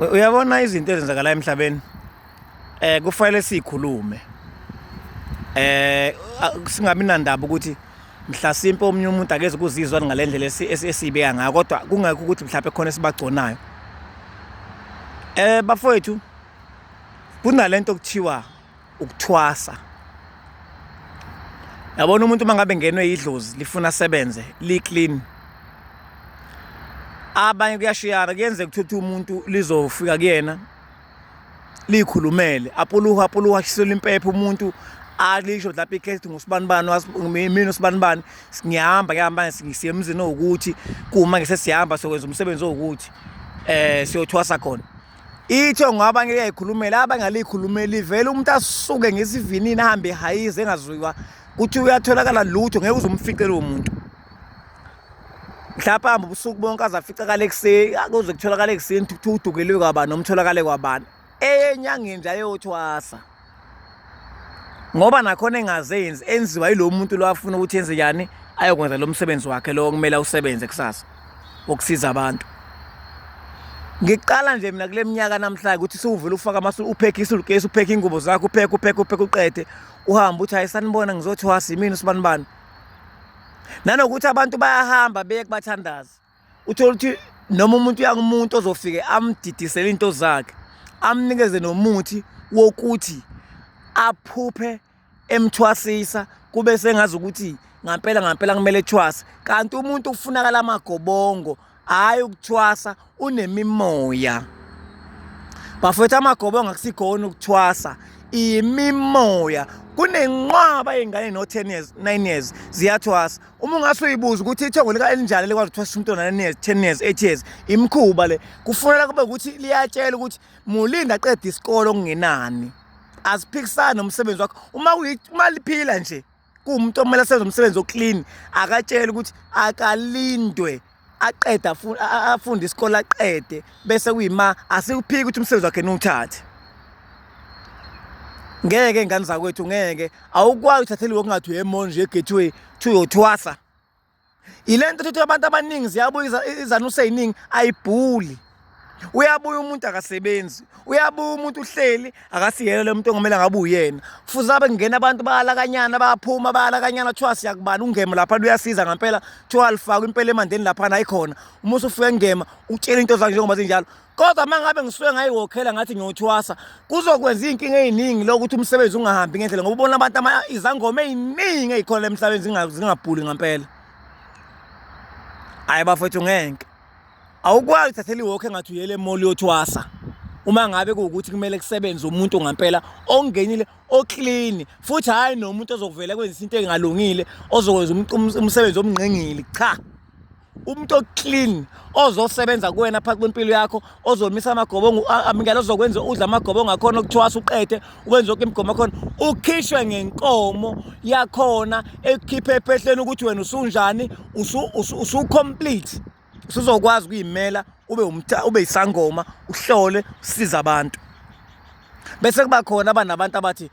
uyabona izinto ezenzakala emhlabeni eh kufanele sikhulume eh singabi nandaba ukuthi mhlasimpe omunye umuntu akeze kuzizwa ngalendlela esibeka ngayo kodwa kungekho ukuthi mhlawumbe khona esibagconayo eh bafowethu kunalento okuthiwa ukuthwasa yabona umuntu uma ngabe ngenwe yidlozi lifuna asebenze li-clean abanye kuyashiyana kuyenzeka ukuthi umuntu lizofika kuyena liyikhulumele apuluha apuluha ashisela impepha umuntu alisho lapho ikhethi ngusibani bani mina usibani bani ngiyahamba ngiyahamba siye emzini owukuthi kuma ngisesihamba sokwenza umsebenzi owukuthi eh siyothwasa khona Itho ngoba ngeke yayikhulumela abangalikhulumeli vele umuntu asuke ngesivinini ahambe ehayize engazwiwa kuthi uyatholakala lutho ngeke uzumfice lowo muntu mhlawumbe hambe ubusuku bonke aze aficakale ekuseni akuze kutholakale ekuseni kuthiwa udukeliwe kwabani nomtholakale kwabani eyenyangeni nje ayothwasa ngoba nakhona engazenzi enziwa yilo muntu lo afuna ukuthi enze yani ayokwenza lo msebenzi wakhe lo kumele usebenze kusasa wokusiza abantu ngiqala nje mina kule minyaka namhlanje ukuthi siwuvula ufaka amasu uphekhe isulukesi uphekhe ingubo zakho uphekhe uphekhe uphekhe uqede uhambe uthi hayi sanibona ngizothi wasi yimini usibanibani nanokuthi abantu bayahamba beye kubathandazi uthole ukuthi noma umuntu uya kumuntu ozofike amdidisele into zakhe amnikeze nomuthi wokuthi aphuphe emthwasisa kube sengazi ukuthi ngampela ngampela kumele ethwase kanti umuntu ufunakala amagobongo hhayi ukuthwasa unemimoya bafowethu amagobongo akusikhona ukuthwasa imimoya kunenqwaba yey'ngane no-ten years nine years ziyathwasa uma ungase uyibuze ukuthi ithongo lika-elinjalo likwazi ukuthi wasisha umntwana nine ten years eight years imikhuba le kufuneka kube ukuthi liyatshela ukuthi mulinda aqeda isikole okungenani aziphikisani nomsebenzi wakho uma uma liphila nje kuwumuntu okumele asenze umsebenzi oclean akatshele ukuthi akalindwe aqede afunde isikole aqede bese kuyima asikuphiki ukuthi umsebenzi wakhe niwuthathe ngeke ngane zakwethu ngeke awukwazi uthathele wokungathi uyemonje egateway thi uyothwasa yile nto thuthi abantu abaningi ziyabuya izanuse yiningi ayibhuli uyabuya umuntu akasebenzi uyabuya umuntu uhleli akasiyena lo muntu ongamele ngabe uyena kufuze abe kungena abantu bayalakanyana bayaphuma bayalakanyana kuthiwa siyakubani ungema lapha luyasiza ngampela kuthiwa alifakwa impela emandeni laphana ayikhona uma usufike ngema utshela into zakhe njengoba zinjalo kodwa uma ngabe ngisuke ngayiwokhela ngathi ngiyothwasa kuzokwenza iy'nkinga ey'ningi lokuthi umsebenzi ungahambi ngendlela ngoba ubona abantu izangoma ey'ningi ey'khona emhlabeni zingabhuli ngampela hhayi bafethu ngeke Awukwazi thathela iwalk engathi uyele mall yothwasa uma ngabe kuwukuthi kumele kusebenze umuntu ngampela ongenile oclean futhi hayi nomuntu ozokuvela kwenza into engalungile ozokwenza umsebenzi omngqengile cha umuntu oclean ozosebenza kuwena phakathi kwempilo yakho ozomisa amagobongo amingela ozokwenza udla amagobongo akhona okuthwasa uqede ukwenza yonke imigomo akhona ukhishwe ngenkomo yakhona ekukhiphe ephehleni ukuthi wena usunjani usu-complete usu, usu usuzokwazi ukuyimela ube umtha ube isangoma uhlole usiza abantu bese kuba khona abanabantu abathi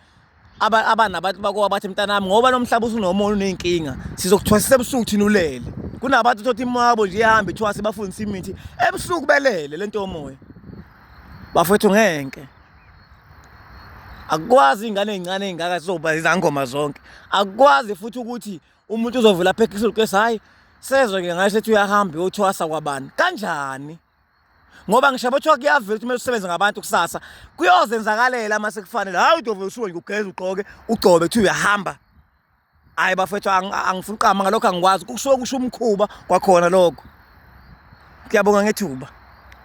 abanabantu bako abathi mntanami ngoba nomhlaba usunomona unenkinga sizokuthwasisa ebusuku thina ulele kunabantu thothi imwabo nje ihambe ithwase bafundisa imithi ebusuku belele lento yomoya bafethu ngenke akwazi ingane ezincane ezingaka sizoba izangoma zonke akwazi futhi ukuthi umuntu uzovela apha ekhishulu kesi hhayi sezwe-ke ngayo sethi uyahamba uyothwasa kwabani kanjani ngoba ngisho bothiwa kuyavela ukuthi kumele usebenze ngabantu kusasa kuyozenzakalela uma sekufanele hhayi udovele usuke nje ugeze ugqoke ugcobe kuthiwa uyahamba hhayi bafethu angifuni uqama ngalokho angikwazi kusuke kusho umkhuba kwakhona lokho ngiyabonga ngethuba